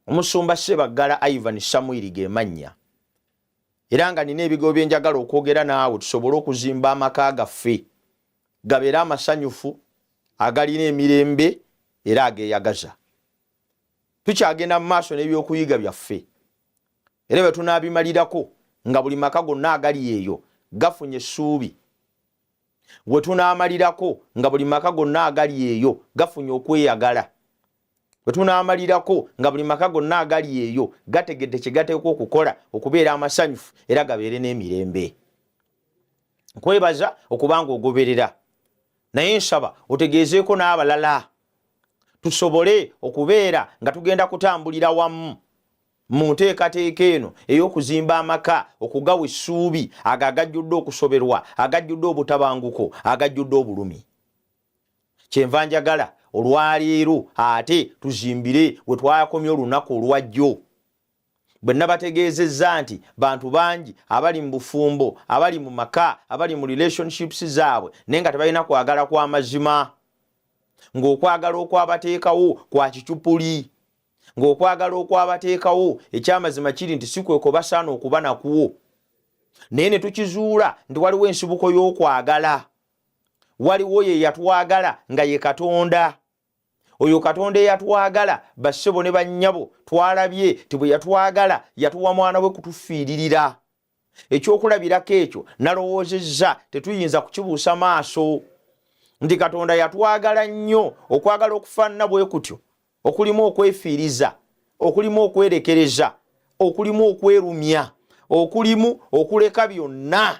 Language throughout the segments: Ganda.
Omusumba Sebaggala Ivan Samwiri ge mannya era nga nina ebigo bye njagala okwogera naawe tusobole okuzimba amaka gaffe gabeere amasanyufu agalina emirembe era ageeyagaza. Tukyagenda mu maaso n'ebyokuyiga byaffe era bwe tunaabimalirako nga buli maka gonna agali eyo gafunye essuubi we tunaamalirako nga buli maka gonna agali eyo gafunye okweyagala. bwe tunaamalirako nga buli maka gonna agali eyo gategedde kye gateekwa okukola okubeera amasanyufu era gabeere n'emirembe nkwebaza okuba nga ogoberera naye nsaba otegeezeeko n'abalala tusobole okubeera nga tugenda kutambulira wamu mu nteekateeka eno ey'okuzimba amaka okugawa essuubi ago agajjudde okusoberwa agajjudde obutabanguko agajjudde obulumi kyenva njagala olwaleero ate tuzimbire we twakomye olunaku olwajjo bwe nabategeezezza nti bantu bangi abali mu bufumbo abali mu maka abali mu relationships zaabwe naye nga tebalina kwagala kwa mazima ng'okwagala okwabateekawo kwa kicupuli ng'okwagala okwabateekawo ekyamazima kiri nti si kweko basaana okuba nakwo naye ne tukizuula nti waliwo ensibuko y'okwagala waliwo ye yatwagala nga ye katonda oyo katonda eyatwagala bassebo ne bannyabo twalabye ti bwe yatwagala yatuwa mwana we kutufiiririra ekyokulabirako ekyo nalowoozezza tetuyinza kukibuusa maaso nti katonda yatwagala nnyo okwagala okufaanana bwe kutyo okulimu okwefiiriza okulimu okwerekereza okulimu okwerumya okulimu okuleka byonna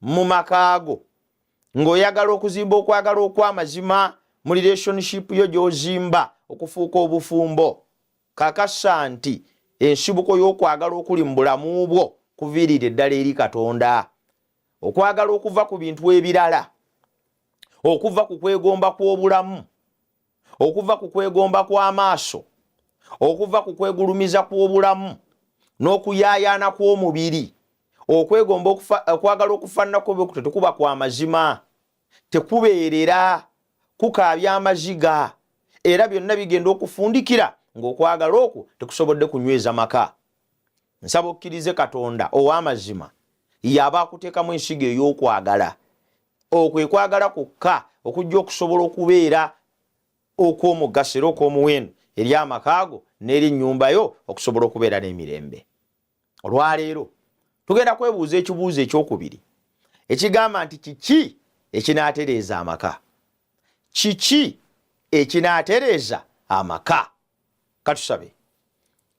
mu makaago ng'oyagala okuzimba okwagala okw'amazima mu relationship yo gy'ozimba okufuuka obufumbo kakasa nti ensibuko y'okwagala okuli mu bulamu bwo kuviirira eddala eri katonda okwagala okuva ku bintu ebirala okuva ku kwegomba kw'obulamu okuva ku kwegomba kw'amaaso okuva ku kwegulumiza kw'obulamu n'okuyaayaana kw'omubiri okwegomba okwagala okufaananako bwekuto tekuba kwa mazima tekubeerera kukaabya amaziga era byonna bigenda okufundikira ng'okwagala okwo tekusobodde kunyweza maka nsaba okkirize katonda ow'amazima yaaba akuteekamu ensigo ey'okwagala okwo ekwagala kwokka okujja okusobola okubeera okw'omugaso era okw'omuwendo eri amakaago n'eri ennyumba yo okusobola okubeera n'emirembe olwaleero tugenda kwebuuza ekibuuzo ekyokubiri ekigamba nti kiki ekinaatereeza amaka kiki ekinaatereeza amaka katusabe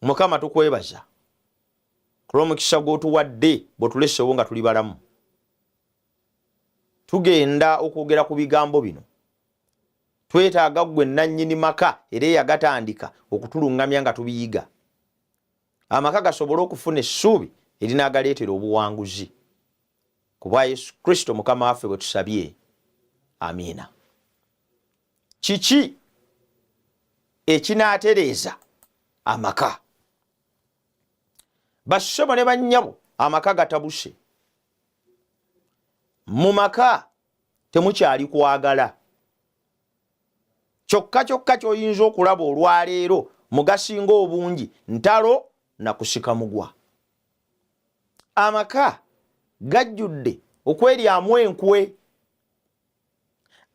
mukama tukwebaza kulwomukisa gwotuwadde bwetulesewo nga tuli balamu tugenda okwogera ku bigambo bino twetaaga gwe nannyini maka era eyagatandika okutulungamya nga tubiyiga amaka gasobole okufuna essuubi erinaagaleetera obuwanguzi ku bwa yesu kristo mukama waffe bwe tusabye amiina kiki ekinaatereeza amaka bassebo ne bannyabo amaka gatabuse mu maka temukyali kwagala kyokka kyokka kyoyinza okulaba olwaleero mugasinga obungi ntalo nakusika mugwa amaka gajjudde okweryamu enkwe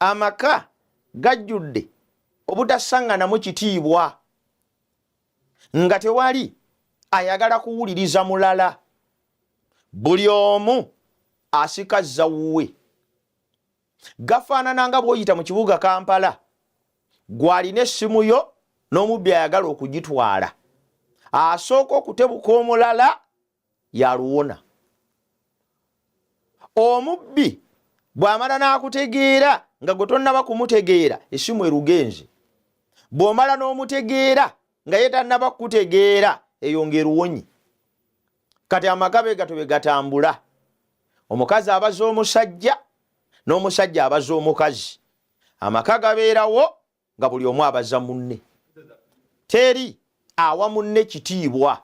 amaka gajjudde obutasaŋŋanamu kitiibwa nga tewali ayagala kuwuliriza mulala buli omu asika zawuwe gafaanana nga bwoyita mu kibuga kampala gwalina essimu yo n'omubbi ayagala okugitwala asooka okutebuka omulala yaluwona omubbi bw'amala n'akutegeera nga gwe tonnaba kumutegeera essimu erugenzi bw'omala n'omutegeera nga ye tannaba kukutegeera eyo ng'eruwonyi kati amaka be gato be gatambula omukazi abaza omusajja n'omusajja abaza omukazi amaka gabeerawo nga buli omu abaza munne teri awa munne kitiibwa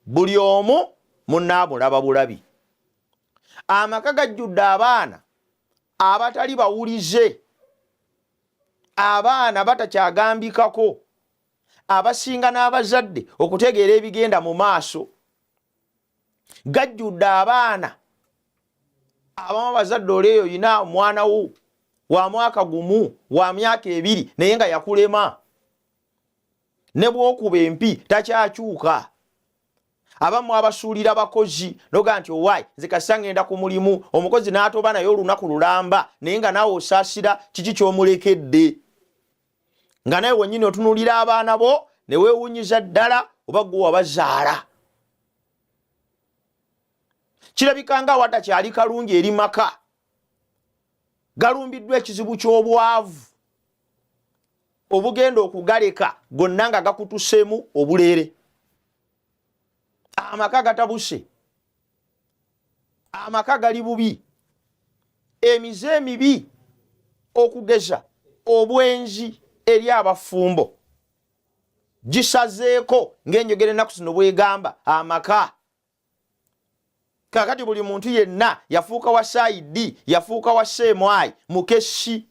buli omu munne amulaba bulabi amaka gajjudde abaana abatali bawulize abaana batakyagambikako abasinga n'abazadde okutegeera ebigenda mu maaso gajjudde abaana abamu bazadde oli eyo yina omwana wo wa mwaka gumu wa myaka ebiri naye nga yakulema ne bwokuba empi takyakyuka abamu abasuulira bakozi noga nti owaayi nze kasita ngenda ku mulimu omukozi n'atoba naye olunaku lulamba naye nga naawe osaasira kiki kyomulekedde nga naye wenyini otunulira abaana bo newewunyiza ddala oba gwe wabazaala kirabika nga awata kyali kalungi eri maka galumbiddwa ekizibu ky'obwavu obugenda okugaleka gonna nga gakutusemu obuleere amaka gatabuse amaka gali bubi emize emibi okugeza obwenzi eri abafumbo gisazeeko ngaenjogera ennaku zino bwegamba amaka kakati buli muntu yenna yafuuka wa saidi yafuuka wa seemwayi mukessi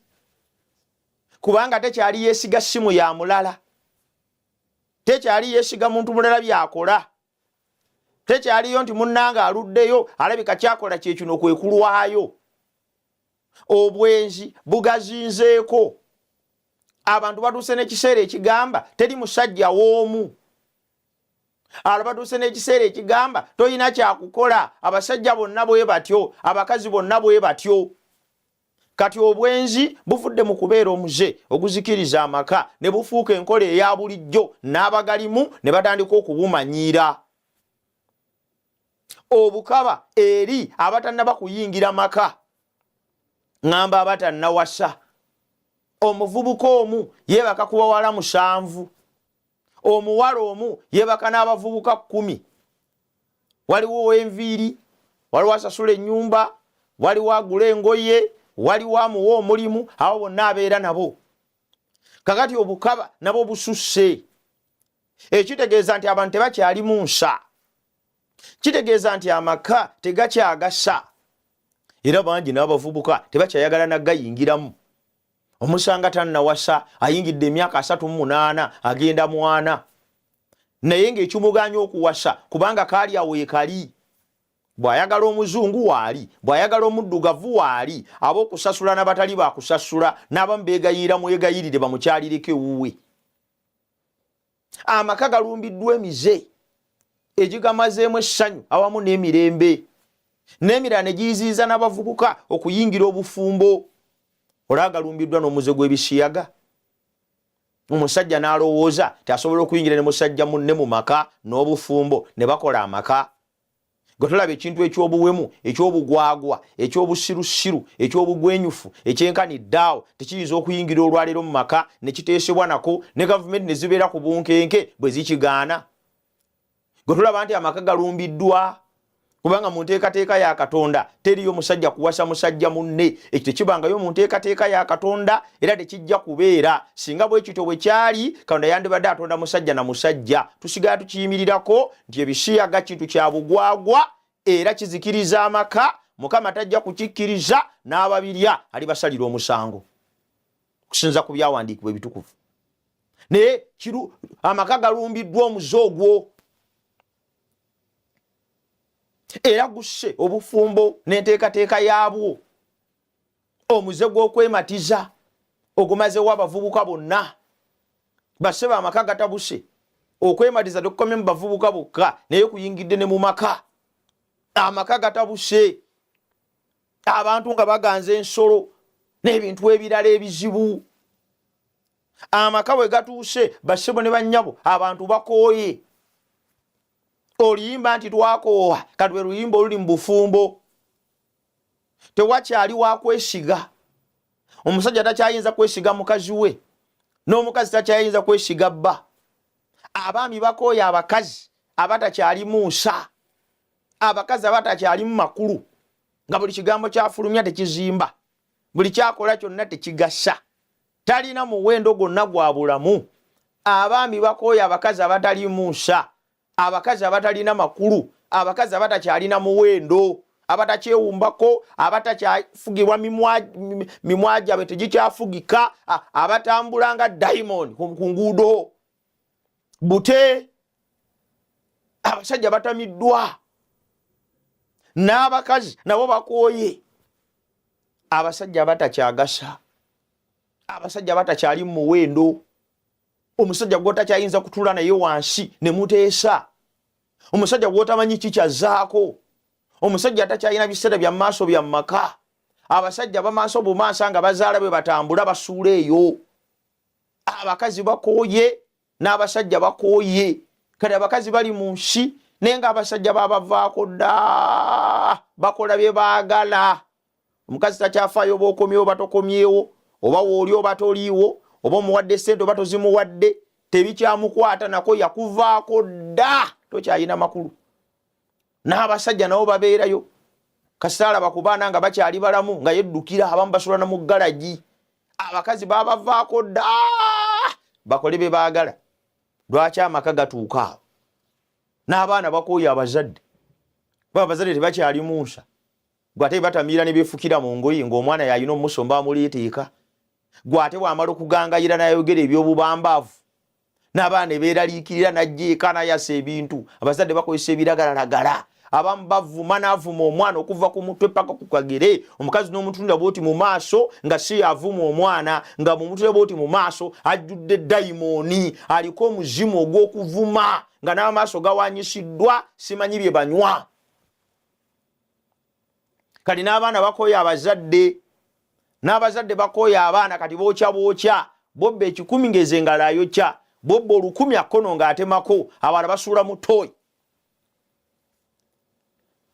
kubanga tekyali yesiga simu ya mulala tekyali yesiga muntu mulala byakola tekyaliyo nti munnange aluddeyo alabika kyakola kyekino kwe kulwayo obwenzi bugazinzeeko abantu batuuse n'ekiseera ekigamba teri musajja w'omu alo batuuse n'ekiseera ekigamba tolina kyakukola abasajja bonna bwe batyo abakazi bonna bwe batyo kati obwenzi buvudde mu kubeera omuze oguzikiriza amaka ne bufuuka enkola eya bulijjo n'abagalimu ne batandika okubumanyiira obukaba eri abatannaba kuyingira maka ŋŋamba abatannawasa omuvubuka omu yeebaka ku bawala musanvu omuwala omu yebaka n'abavubuka kkumi waliwo owenviiri waliwo asasula ennyumba waliwo agula engoye waliwo amuwa omulimu abo bonna abeera nabo kakati obukaba nabo bususse ekitegeeza nti abantu tebakyali mu nsa kitegeeza nti amaka tegakyagasa era bangi n'abavubuka tebakyayagala nagayingiramu omusanga tannawasa ayingidde emyaka asatu mu munaana agenda mwana naye ng'ekimuganya okuwasa kubanga kaali awo yekali bw'ayagala omuzungu waali bw'ayagala omuddugavu waali ab'okusasula n'abatali bakusasula n'abamu beegayiira mwegayirire bamukyalireko ewuwe amaka galumbiddwa emize egigamazeemu essanyu awamu n'emirembe n'emirala ne giyiziyiza n'abavubuka okuyingira obufumbo olaagalumbiddwa n'omuze gw'ebisiyaga omusajja n'alowooza ti asobola okuyingira ne musajja munne mu maka n'obufumbo ne bakola amaka gwe tolaba ekintu ekyobuwemu ekyobugwagwa ekyobusirusiru ekyobugwenyufu ekyenkani daawo tekiyinza okuyingira olwaleero mu maka nekiteesebwa nako ne gavumenti nezibeera ku bunkenke bwe zikigaana gwe tolaba nti amaka galumbiddwa kubanga mu nteekateeka ya katonda teriyo musajja kuwasa musajja munne ekyo tekibangayo mu nteekateeka ya katonda era tekijja kubeera singa bwekityo bwe kyali katonda yandibadde atonda musajja na musajja tusigala tukiyimirirako nti ebisiyaga kintu kya bugwagwa era kizikiriza amaka mukama tajja kukikkiriza n'ababirya alibasalira omusango okusinza ku byawandiikibwa ebitukuvu naye amaka galumbiddwa omuze ogwo era gusse obufumbo n'enteekateeka yaabwo omuze gw'okwematiza ogumazewo abavubuka bonna basse bamaka gatabuse okwematiza tekukomye mu bavubuka bokka naye kuyingidde ne mu maka amaka gatabuse abantu nga baganza ensolo n'ebintu ebirala ebizibu amaka bwe gatuuse bassebo ne bannyabo abantu bakooye oluyimba nti twakoowa katwe luyimba oluli mu bufumbo tewakyali wakwesiga omusajja takyayinza kwesiga mukazi we n'omukazi takyayinza kwesiga bba abaami bakooya abakazi abatakyalimu nsa abakazi abatakyalimu makulu nga buli kigambo kyafulumya tekizimba buli kyakola kyonna tekigasa talina muwendo gwonna gwa bulamu abaami bakooya abakazi abatalimu nsa abakazi abatalina makulu abakazi abatakyalina muwendo abatakyewumbako abatakyafugirwa mimwa gyabwe tegikyafugika abatambula nga diamond ku nguudo bute abasajja batamiddwa n'abakazi nabo bakooye abasajja abatakyagasa abasajja abatakyali mu muwendo omusajja gwotakyayinza kutula naye wansi ne muteesa omusajja gwotamanyi kikyazaako omusajja atakyalina biseera bya maaso bya maka abasajja bamaaso bumaasa nga bazaala bwe batambula basuula eyo abakazi bakooye n'abasajja bakooye kati abakazi bali mu nsi naye nga abasajja babavaako dda bakola bye baagala omukazi takyafaayo oba okomyewo oba tokomyewo oba wooli oba toliiwo oba omuwadde sente oba tozimuwadde tebikyamukwata nako yakuvaako dda tokyalina makulu n'abasajja nabo babeerayo kasaalaba ku baana nga bakyali balamu nga yeddukira abamu basulana mu galagi abakazi babavaako dda bakole be baagala lwaki amaka gatuuka awo n'abaana bakooya abazadde kuba abazadde tebakyali munsa gwe ate batamiira nebefukira mu ngoyi ngaomwana yalina omusomba amuliitiika gwe ate bwamala okugangayira nayogera ebyobubambaavu nabaana neberaliikirira najja eka nayasa ebintu abazadde bakozesa ebiragalalagala abamu bavuma navuma omwana okuva ku mutwe paka ku kagere omukazi n'omutunira bwoti mu maaso nga si yavuma omwana nga mumutunira bwoti mu maaso ajjudde dayimooni aliko omuzimu ogw'okuvuma nga n'amaaso gawanyisiddwa simanyi bye banywa kati n'abaana bakooya abazadde n'abazadde bakooya abaana kati bookya bookya bobba ekikumi ngeze ngalo ayokya bobba olukumi akkono ng'atemako abala basuula mu tooyi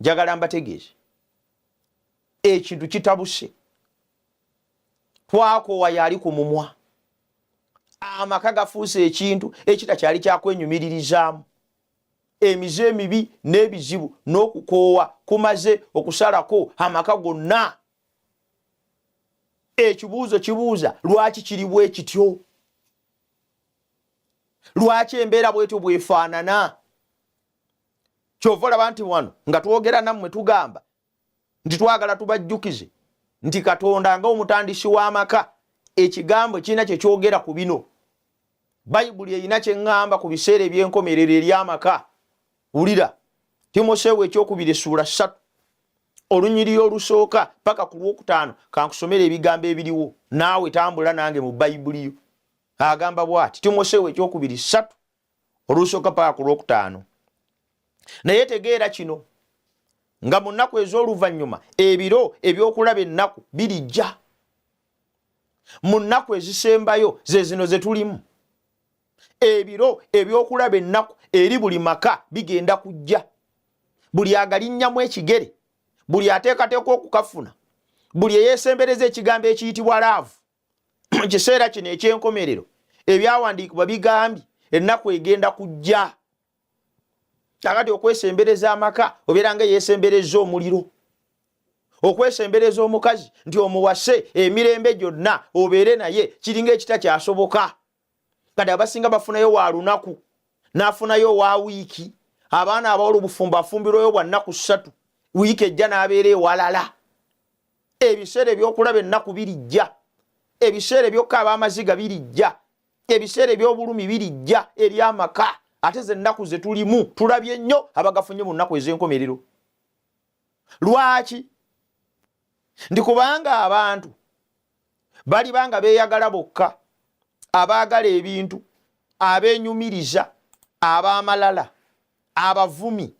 njagala mbategeeze ekintu kitabuse twakoowa yaali ku mumwa amaka gafuuse ekintu ekitakyali kyakwenyumiririzaamu emize emibi n'ebizibu n'okukoowa kumaze okusalako amaka gonna ekibuuzo kibuuza lwaki kiri bwe kityo lwaki embeera bwetyo bwefaanana kyova olaba nti wano nga twogera nammwe tugamba nti twagala tubajjukize nti katonda nga omutandisi w'amaka ekigambo kirina kye kyogera ku bino bayibuli erina kye ŋŋamba ku biseera eby'enkomerero eri amaka wulira timoseewo ekyokubiri essuula ssatu olunyiriri olusooka paka ku lwokutaano kankusomera ebigambo ebiriwo naawe tambula nange mu bayibuli yo agamba bwati timoseewo ekyokubiri ssatu olusooka paka ku lwokutaano naye tegeera kino nga mu nnaku ez'oluvannyuma ebiro ebyokulaba ennaku birijja mu nnaku ezisembayo ze zino ze tulimu ebiro ebyokulaba ennaku eri buli maka bigenda kujja buli agalinnyamu ekigere buli ateekateeka okukafuna buli eyeesembereza ekigambo ekiyitibwa laavu mu kiseera kino eky'enkomerero ebyawandiikibwa bigambye ennaku egenda kujja kakati okwesembereza amaka obeera nga eyesembereza omuliro okwesembereza omukazi nti omuwase emirembe gyonna obeere naye kiringa ekita kyasoboka kati abasinga bafunayo wa lunaku n'afunayo owa wiiki abaana abawala obufumbo afumbirwayo bwa nnaku ssatu wiiki ejja n'abeera ewalala ebiseera ebyokulaba ennaku birijja ebiseera ebyokka ab'amaziga birijja ebiseera ebyobulumi birijja eri amaka ate ze nnaku ze tulimu tulabye nnyo abagafunye mu nnaku ez'enkomerero lwaki ndi kubanga abantu baliba nga beeyagala bokka abaagala ebintu abeenyumiriza ab'amalala abavumi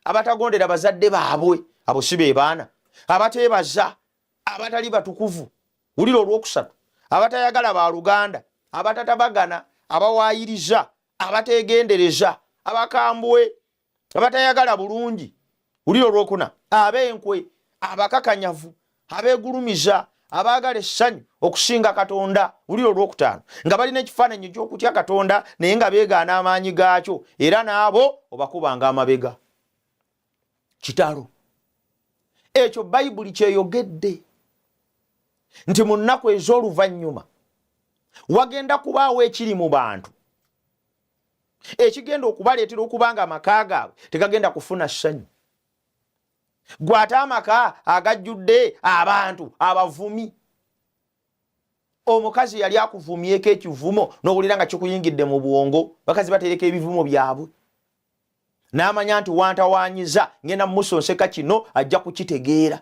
abatagondera bazadde baabwe abo si be baana abateebaza abatali batukuvu wulira olwokusatu abatayagala ba luganda abatatabagana abawaayiriza abateegendereza abakambwe abatayagala bulungi ulira olwokuna ab'enkwe abakakanyavu abegulumiza abaagala essanyu okusinga katonda ulira olwokutaano nga balina ekifaananyi ekyokutya katonda naye nga beegaana amaanyi gaakyo era n'abo obakubanga amabega kitalo ekyo bayibuli kyeyogedde nti mu nnaku ez'oluvannyuma wagenda kubaawo ekiri mu bantu ekigenda okubaleetera okuba nga amaka gaabwe tegagenda kufuna ssanyu gwe ate amaka agajjudde abantu abavumi omukazi yali akuvumyeko ekivumo nowulira nga kikuyingidde mu bwongo bakazi batereka ebivumo byabwe n'amanya nti wantawanyiza ngenda mumusonseka kino ajja kukitegeera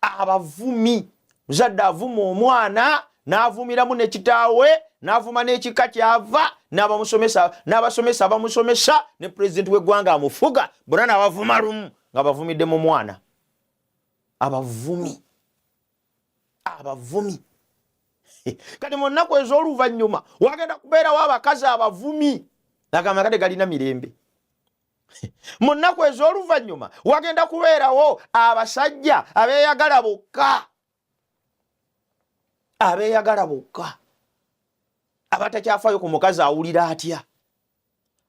abavumi muzadde avuma omwana n'avumiramu ne kitaawe n'avuma n'ekika kyava n'abamusomesa n'abasomesa abamusomesa ne pulezidenti w'eggwanga amufuga bona n'abavuma lumu nga bavumidde mu mwana abavumi abavumi kati mu nnaku ez'oluvannyuma wagenda kubeerawo abakazi abavumi agamba kade galina mirembe mu nnaku ez'oluvannyuma wagenda kubeerawo abasajja abeeyagala bokka abeeyagala bokka abatakyafaayo ku mukazi awulira atya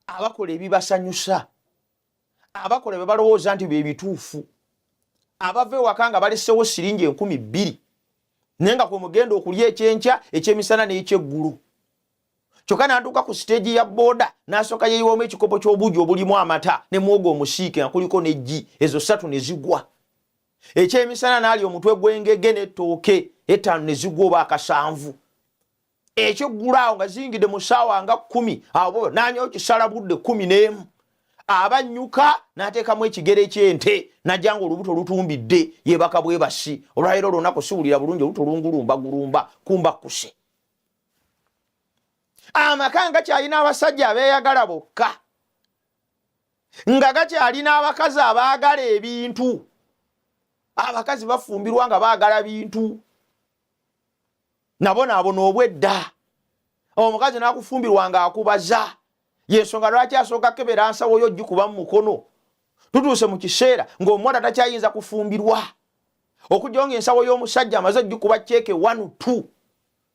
abakola ebibasanyusa abakola bye balowooza nti bye bituufu abava ewaka nga balesewo siringi enkumi bbiri naye nga kwe mugenda okulya ekyenkya ekyemisana n'ekyeggulu kyokka n'atuuka ku siteegi ya booda n'asooka yeyiwamu ekikopo ky'obuugi obulimu amata ne mwogo omusiike nga kuliko n'eggi ezo ssatu ne zigwa ekyemisana n'alya omutwe gw'engege n'ettooke ettaano ne zigwa oba akasanvu ekyeggula awo nga ziyingidde mu ssaawa nga kkumi awo nanyawo kisala budde kkumi n'emu aba nnyuka n'ateekamu ekigere ky'ente najja nga olubuto lutumbidde yeebaka bwebasi olwaleero olunaku siwulira bulungi olubuto lungulumba gulumba kumba kkuse amaka nga kyalina abasajja abeeyagala bokka nga gakyalina abakazi abaagala ebintu abakazi bafumbirwa nga baagala bintu nabonaabona obwedda omukazi nakufumbirwa nga akubaza yensonga lwaki asooka kebera nsawo yo gikuba mu mukono tutuuse mu kiseera ng'omuwala takyayinza kufumbirwa okujjawo nga ensawo y'omusajja amaze gikuba ceeke one two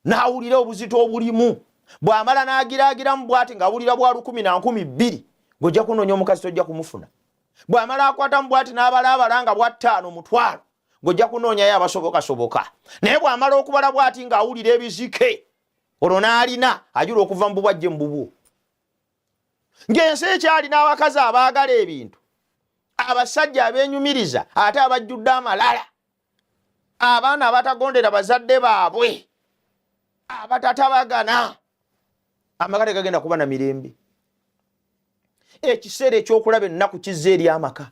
n'awulira obuzito obulimu bw'amala n'agiraagiramu bwati ng'awulira bwa lukumi na nkumi bbiri ng'ojja kunoonya omukazi tojja kumufuna bw'amala akwatamu bwati n'abalaabala nga bwattaano mutwalo ng'ojja kunoonyayo abasobokasoboka naye bw'amala okubala bw'ati ng'awulira ebizike olwo n'alina ajula okuva mu bubwajje mu bubwo ng'ensi ekyali n'abakazi abaagala ebintu abasajja abeenyumiriza ate abajjudde amalala abaana abatagondera bazadde baabwe abatatabagana amaka tegagenda kuba na mirembe ekiseera ekyokulaba ennaku kizza eri amaka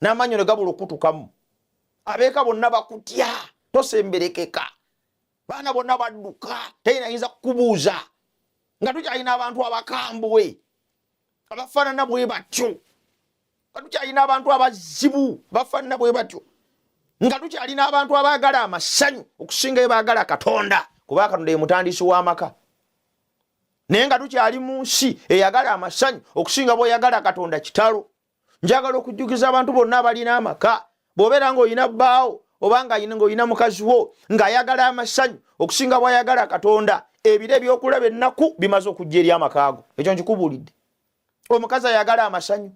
n'amaanyi ne gabula okukutukamu abeeka bonna bakutya tosemberekeka baana bonna badduka teyinayinza kukubuuza nga tukyalina abantu abakambwe abafaanana bwe batyo nga tukyalina abantu abazibu abafaanana bwe batyo nga tukyalina abantu abaagala amasanyu okusinga ebaagala katonda kuba katonda ye mutandisi w'amaka naye nga tukyali mu nsi eyagala amasanyu okusinga bweyagala katonda kitalo njagala okujjukiza abantu bonna abalina amaka bw'obeera ng'olina bbaawo oba ng'olina mukazi wo ng'ayagala amasanyu okusinga bw'ayagala katonda ebiro ebyokulaba ennaku bimaze okujja eri amakaago ekyo nkikubuulidde omukazi ayagala amasanyu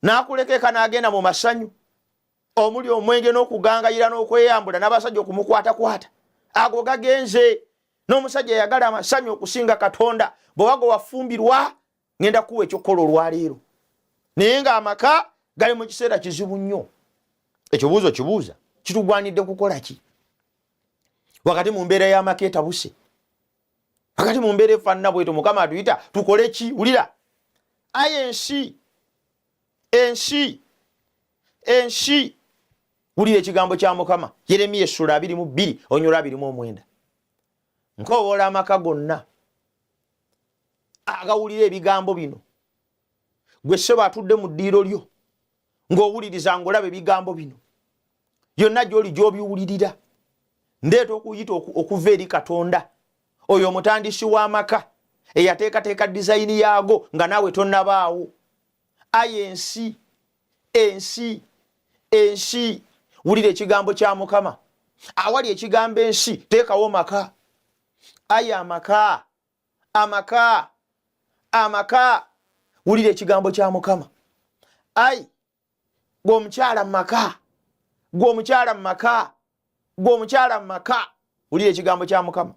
n'akulekeka n'agenda mu masanyu omuli omwenge n'okugangayira n'okweyambula n'abasajja okumukwatakwata ago gagenze n'omusajja yagala amasanyu okusinga katonda bwewago wafumbirwa ngenda kuwa ekyokukola olwaleero naye nga amaka gali mu kiseera kizibu nnyo ekibuuzo kibuuza kitugwanidde kukola ki wakati mu mbeera y'amaka etabuse wakati mu mbeera efaanana bweto mukama atuyita tukole ki wulira aye ensi ensi ensi wulira ekigambo kya mukama yeremiya essula abiri mu bbiri onyola abiri mu omwenda nkoowoola amaka gonna agawulira ebigambo bino gwe ssebo atudde mu ddiiro lyo ng'owuliriza ng'olaba ebigambo bino yonna gy'oli gy'obiwulirira ndeeta okuyita okuva eri katonda oyo omutandisi w'amaka eyateekateeka dizayini yaago nga naawe tonnabaawo ayi ensi ensi ensi wulira ekigambo kya mukama awali ekigambo ensi teekawo maka ayi amaka amaka amaka wulira ekigambo kya mukama ayi gwe omukyala mu maka gwe omukyala mu maka gwe omukyala mu maka wulira ekigambo kya mukama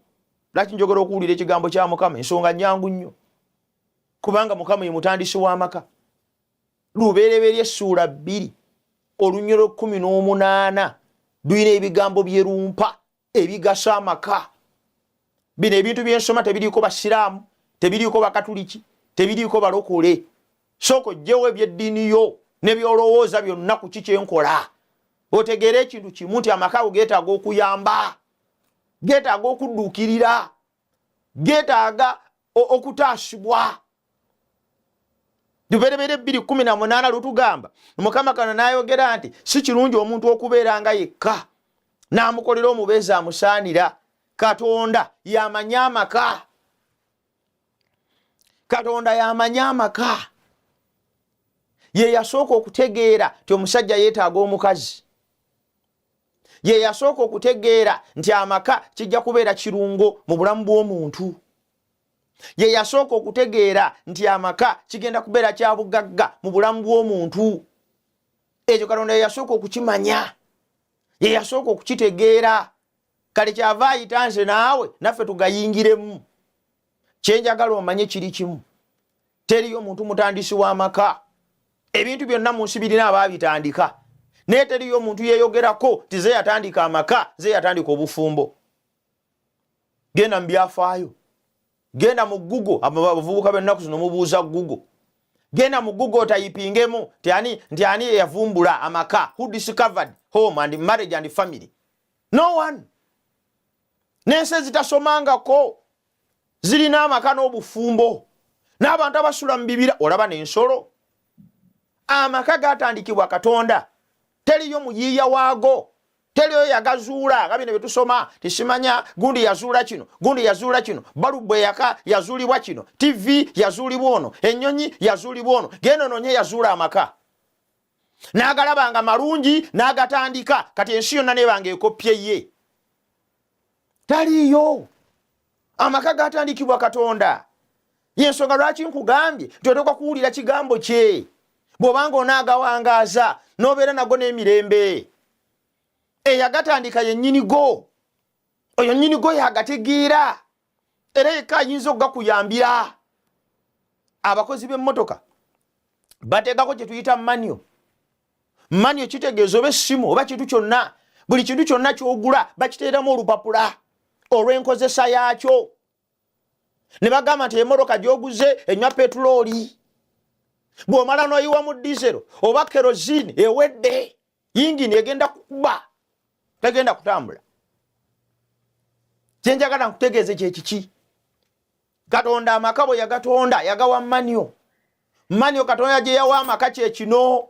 lwaki njogera okuwulira ekigambo kya mukama ensonga nyangu nnyo kubanga mukama ye mutandisi w'amaka lubereberye essuula bbiri olunyolo kumi n'omunaana lulina ebigambo byerumpa ebigasa amaka bino ebintu byensoma tebiriiko basiraamu tebiriiko bakatuliki tebiriiko balokole sooka ojjewo ebyeddiini yo nebyolowooza byonna ku ki kyenkola otegeere ekintu kimu nti amaka ago getaaga okuyamba getaaga okudduukirira getaaga okutaasibwa luberebera ebbiri kumi na munaana lutugamba mukama kano n'ayogera nti si kirungi omuntu okubeera nga yekka n'amukolera omubeezi amusaanira katonda yamanyi amaka katonda yamanyi amaka ye yasooka okutegeera ti omusajja yeetaaga omukazi ye yasooka okutegeera nti amaka kijja kubeera kirungo mu bulamu bw'omuntu ye yasooka okutegeera nti amaka kigenda kubeera kya bugagga mu bulamu bw'omuntu ekyo katonda ye yasooka okukimanya ye yasooka okukitegeera kale kyava ayita nze naawe naffe tugayingiremu kyenjagala omanye kiri kimu teriyo muntu mutandisi w'amaka ebintu byonna mu nsi birina abaabitandika naye teriyo omuntu yeeyogerako ti ze yatandika amaka ze yatandika obufumbo genda mu byafaayo genda mu gugo abavubuka bennaku zino mubuuza gugo genda mu gugo otayipingemu ti ani nti ani eyavumbula amaka who discovered home and marriage and family no one n'ensi ezitasomangako zirina amaka n'obufumbo n'abantu abasula mu bibira olaba n'ensolo amaka gatandikibwa katonda teriyo muyiiya waago teriyo yagazuula nga bino byetusoma tisimanya gundi yazuula kino gundi yazuula kino balubwe yaka yazuulibwa kino tivi yazuulibwa ono ennyonyi yazuulibwa ono genda ononye yazuula amaka n'agalaba nga malungi n'agatandika kati ensi yonna nebanga ekoppye ye taliiyo amaka gatandikibwa katonda yensonga lwaki nkugambye nti oteekwa kuwulira kigambo kye bw'obanga onaagawangaaza n'obeera nago n'emirembe eyagatandika yennyini go oyo nnyini go yagategeera era yekka ayinza okugakuyambira abakozi b'emmotoka bateekako kye tuyita manio manio kitegeeza oba essimu oba kintu kyonna buli kintu kyonna kyogula bakiteeramu olupapula olw'enkozesa yaakyo ne bagamba nti emmotoka gyoguze enywa petulooli bw'omala n'oyiwa mu dizero oba kerozini ewedde yingini egenda kukuba tegenda kutambula kyenjagala nkutegeeze kyekiki katonda amaka bwe yagatonda yagawa manyo manyo katonda gye yawa amaka kyekino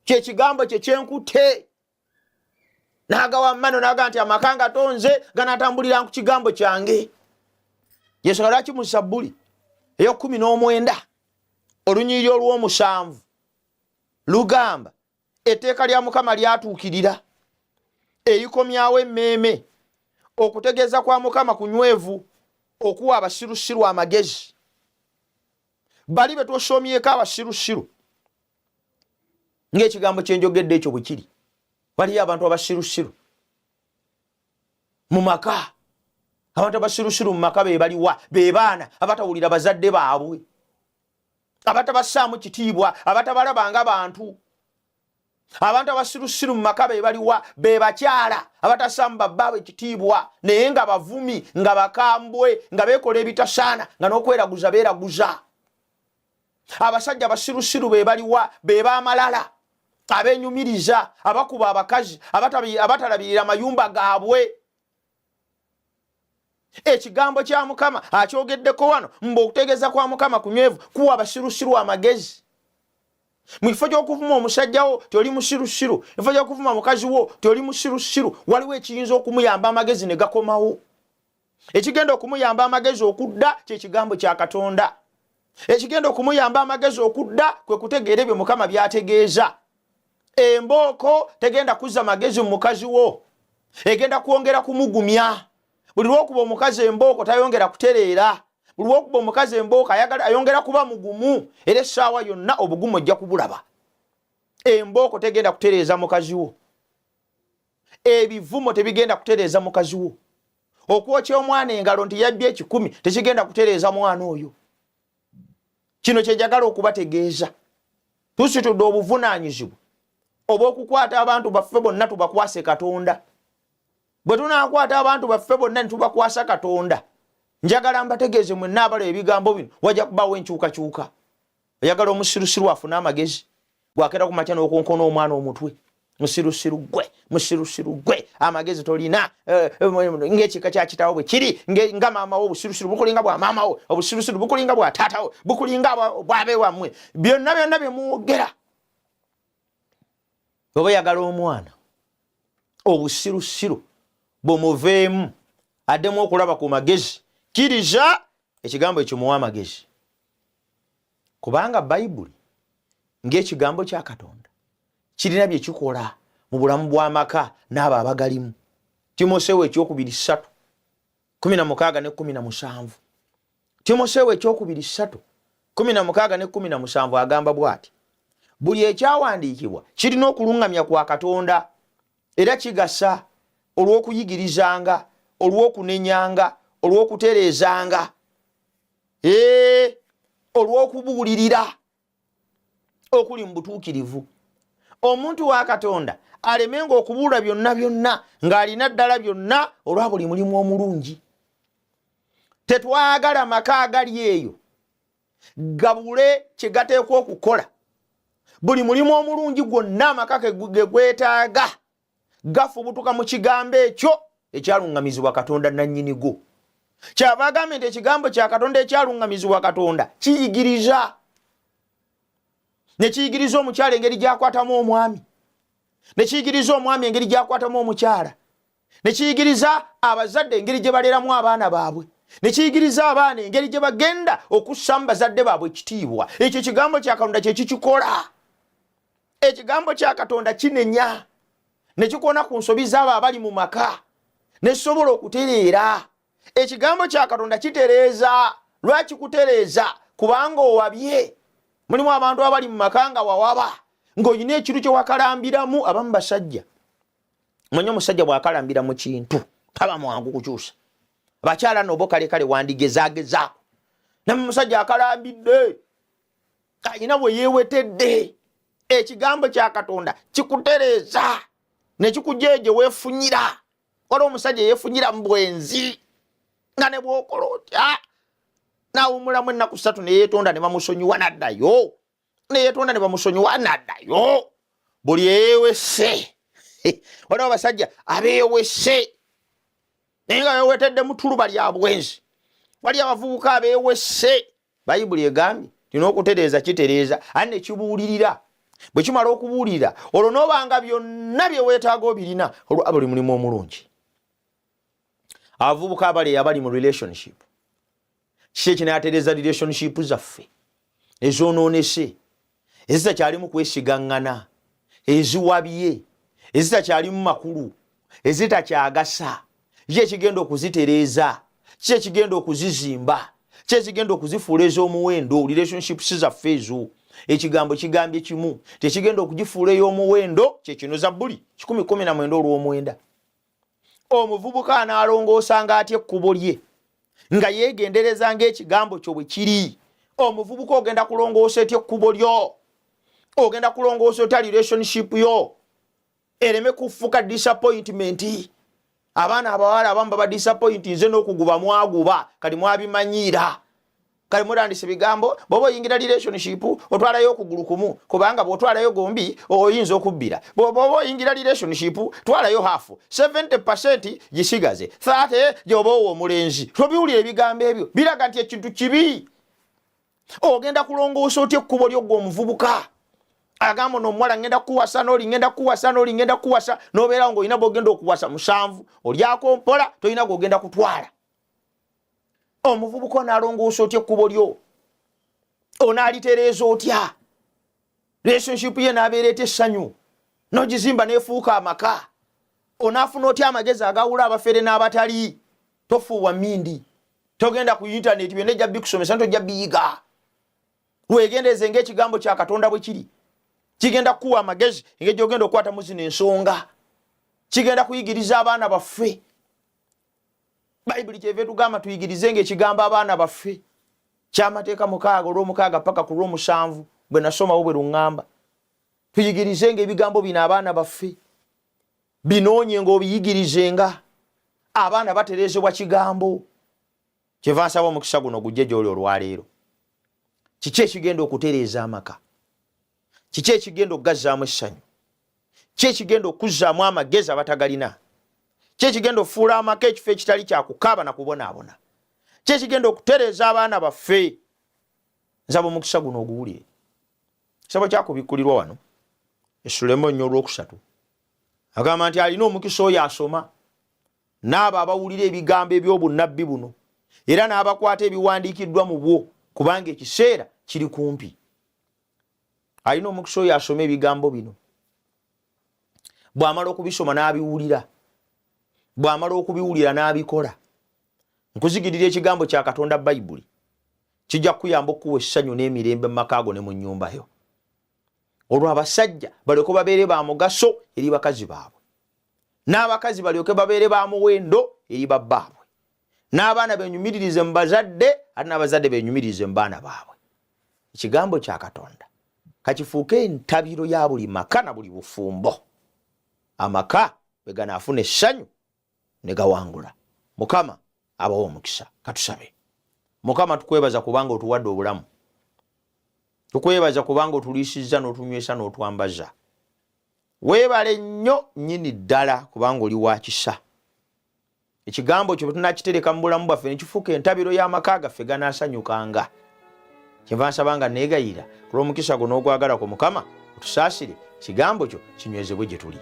kyekigambo kye kyenkutte nagawa manyo naga nti amaka nga tonze ganatambulira ku kigambo kyange yensonga lwaki mu sabbuli eyokumi n'omwenda olunyiriri olw'omusanvu lugamba etteeka lya mukama lyatuukirira eyikomyawo emmeeme okutegeeza kwa mukama kunywevu okuwa abasirusiru amagezi bali be twosomyeko abasirusiru ng'ekigambo kyenjogedde ekyo bwe kiri waliyo abantu abasirusiru mu maka abantu abasirusiru mu maka be baliwa be baana abatawulira bazadde baabwe abatabassaamu kitiibwa abatabalaba nga bantu abantu abasirusiru mu maka be baliwa be bakyala abatassaamu babbaabwe ekitiibwa naye nga bavumi nga bakambwe nga beekola ebitasaana nga n'okweraguza beeraguza abasajja abasirusiru be baliwa be baamalala abenyumiriza abakuba abakazi abatalabirira amayumba gaabwe ekigambo kya mukama akyogeddeko wano mbu okutegeeza kwa mukama kunywevu kuwa abasirusiru amagezi mu kifo ky'okuvuma omusajja wo toli musirusiru mu kifo ky'okuvuma mukazi wo toli musirusiru waliwo ekiyinza okumuyamba amagezi ne gakomawo ekigenda okumuyamba amagezi okudda kyekigambo kya katonda ekigenda okumuyamba amagezi okudda kwe kutegeera ebyo mukama byategeeza embooko tegenda kuzza magezi mu mukazi wo egenda kwongera kumugumya buli lwokuba omukazi embooko tayongera kutereera buli lwokuba omukazi embooko ayongera kuba mugumu era essaawa yonna obugumu ojja kubulaba embooko tegenda kutereeza mukazi wo ebivumo tebigenda kutereeza mukazi wo okwokya omwana engalo nti yabbye ekikumi tekigenda kutereeza mwana oyo kino kyejagala okubategeeza tusitudde obuvunaanyizibwa obwokukwata abantu baffe bonna tubakwase katonda bwe tunakwata abantu baffe bonna nitubakwasa katonda njagala mbategeeze mwenna abala ebigambo bino wajja kubaawo enkyukakyuka oyagala omusirusiru afune amagezi bwakera kumakya nokonkona omwana omutwe musirusiru gwe musirusiru gwe amagezi tolina eh, eh, ngaekika kyakitawo bwe kiri nga maamawo obusirusiru bukulinga bwa maamawo obusirusiru bukulinga bwa taatawo bukulinga bwabe wammwe byonna byonna byemwogera oba oyagala omwana obusirusiru bumuveemu addemu okulaba ku magezi kiriza ekigambo ekyo muwa amagezi kubanga bayibuli ng'ekigambo kya katonda kirina bye kikola mu bulamu bw'amaka n'abo abagalimu timoseewo ekyokubiri ssatu kumi na mukaaga ne kumi na musanvu timoseewo ekyokubiri ssatu kumi na mukaaga ne kumi na musanvu agamba bw'ati buli ekyawandiikibwa kirina okuluŋŋamya kwa katonda era kigasa olw'okuyigirizanga olw'okunenyanga olw'okutereezanga ee olw'okubuulirira okuli mu butuukirivu omuntu wa katonda alemenga okubuula byonna byonna ng'alina ddala byonna olwa buli mulimu omulungi tetwagala maka agali eyo gabule kye gateekwa okukola buli mulimu omulungi gwonna amaka ge gwetaaga gafubutuka mu kigambo ekyo ekyaluŋŋamizibwa katonda nannyini go kyava agambye nti ekigambo kya katonda ekyaluŋŋamizibwa katonda kiyigiriza ne kiyigiriza omukyala engeri gyakwatamu omwami ne kiyigiriza omwami engeri gyakwatamu omukyala ne kiyigiriza abazadde engeri gye baleeramu abaana baabwe ne kiyigiriza abaana engeri gye bagenda okussamu bazadde baabwe ekitiibwa ekyo ekigambo kya katonda kye kikikola ekigambo kya katonda kinenya ne kikona ku nsobi z'abo abali mu maka ne kisobola okutereera ekigambo kya katonda kitereeza lwaki kutereeza kubanga owabye mulimu abantu abali mu maka nga wawaba ng'olina ekintu kye wakalambiramu abamu basajja manya omusajja bw'akalambira mu kintu taba mwangu kukyusa abakyala nobo kale kale wandigezagezaako namu musajja akalambidde ayina bwe yewetedde ekigambo kya katonda kikutereeza nekikugya egye wefunyira wala omusajja yefunyira mu bwenzi nga ne bwokola otya nawumulamu ennaku satu neyetonda ne bamusonyiwa naddayo neyetonda ne bamusonyiwa naddayo buli eyewese waliwo abasajja abewese naye nga bewetedde mu tuluba lya bwenzi wali abavubuka abewese bayibuli egambye tino okutereeza kitereeza ani nekibuulirira bwe kimala okubuulirira olwo noobanga byonna bye weetaaga obirina olwaba oli mulimu omulungi abavubuka abali abali mu relationship kiki ekinatereeza relationship zaffe ezonoonese ezitakyalimu kwesigaŋŋana eziwabye ezitakyalimu makulu ezitakyagasa ki ekigenda okuzitereeza ki ekigenda okuzizimba ki ekigenda okuzifuula ez'omuwendo relationships zaffe ezo ekigambo kigambye kimu tekigenda okugifuula ey'omuwendo kyekino zabbuli 119 omuvubuka anaalongoosanga atya ekkubo lye nga yeegendereza ng'ekigambo kyo bwe kiri omuvubuka ogenda kulongoosa etya ekkubo lyo ogenda kulongoosa otya relationship yo ereme kufuka disappointment abaana abawala abamu baba disappoint nze n'okuguba mwaguba kati mwabimanyiira kale murandise bigambo bwoba oyingira relationship otwalayo okugulu kumu kubanga bwotwalayo gombi oyinza okubbira bwoba oyingira relationship twalayo hafu 70 gisigaze 30 gyoba owo omulenzi tobiwulira ebigambo ebyo biraga nti ekintu kibi ogenda kulongoosa otya ekkubo lyo gwe omuvubuka agamba ono omuwala ngenda kuwasa noli ngenda kuwasa noli ngenda kuwasa nobeerawo ngaolina bwogenda okuwasa musanvu olyako mpola tolina gwogenda kutwala omuvubuka onalongoosa otya ekkubo lyo onaalitereeza otya relationship ye naabeera eta essanyu nogizimba nefuuka amaka onaafuna otya amagezi agawula abafere n'abatali tofuuwa mindi togenda ku intaneti byonna ejja bikusomesa nti ojja biyiga wegendereze ngaekigambo kya katonda bwe kiri kigenda kukuwa amagezi engeri gyogenda okukwata mu zino ensonga kigenda kuyigiriza abaana baffe bayibuli kyeva etugamba tuyigirize nga ekigambo abaana baffe kyamateeka mukaaga olwomukaaga paka ku lwomusanvu bwe nasomawo bwe luŋŋamba tuyigirize nga ebigambo bino abaana baffe binoonye nga obiyigirize nga abaana baterezebwa kigambo kyeva nsaba omukisa guno gujje gyoli olwaleero kiki ekigenda okutereeza amaka kiki ekigenda okugazzaamu essanyu ki ekigenda okuzzaamu amagezi abatagalina ki ekigenda okufuula amaka ekifo ekitali kyakukaaba na kubonaabona ki ekigenda okutereeza abaana baffe nsaba omukisa guno oguwulire kisabo kyakubikkulirwa wano esulemu nnyo olwokusatu agamba nti alina omukisa oyo asoma n'abo abawulira ebigambo eby'obunnabbi buno era n'abakwata ebiwandiikiddwa mu bwo kubanga ekiseera kiri kumpi alina omukisa oyo asoma ebigambo bino bw'amala okubisoma n'abiwulira bw'amala okubiwulira n'abikola nkuzigirira ekigambo kya katonda bayibuli kijja kukuyamba okukuwa essanyu n'emirembe mu maka go ne mu nnyumba yo olwo abasajja balyoke babeere ba mugaso eri bakazi baabwe n'abakazi balyoke babeere ba muwendo eri babbaabwe n'abaana benyumiririze mu bazadde ate n'abazadde benyumiririze mu baana baabwe ekigambo kya katonda kakifuuke entabiro ya buli maka na buli bufumbo amaka bwe ganaafuna essanyu ne gawangula mukama abawa omukisa katusabe mukama tukwebaza kubanga otuwadde obulamu tukwebaza kubanga otuliisizza n'otunywesa n'otwambaza weebale nnyo nnyini ddala kubanga oli wa kisa ekigambo kyo bwetunakitereka mu bulamu bwaffe nekifuuka entabiro y'amaka gaffe ganaasanyukanga kyenva nsaba nga neegayirira olw'omukisa gwo n'ogwagala ku mukama otusaasire kigambo kyo kinywezebwe gye tuli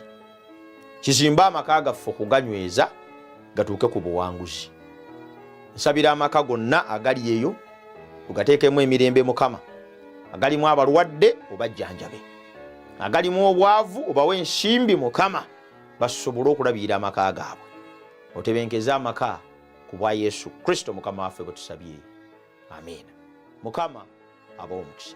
kizimbe amaka gaffe okuganyweza gatuuke ku buwanguzi nsabira amaka gonna agali eyo ogateekemu emirembe mukama agalimu abalwadde obajjanjabe agalimu obwavu obawe ensimbi mukama basobole okulabirira amaka gaabwe otebenkeze amaka ku bwa yesu kristo mukama waffe bwe tusabye amiina mukama abawo omukisa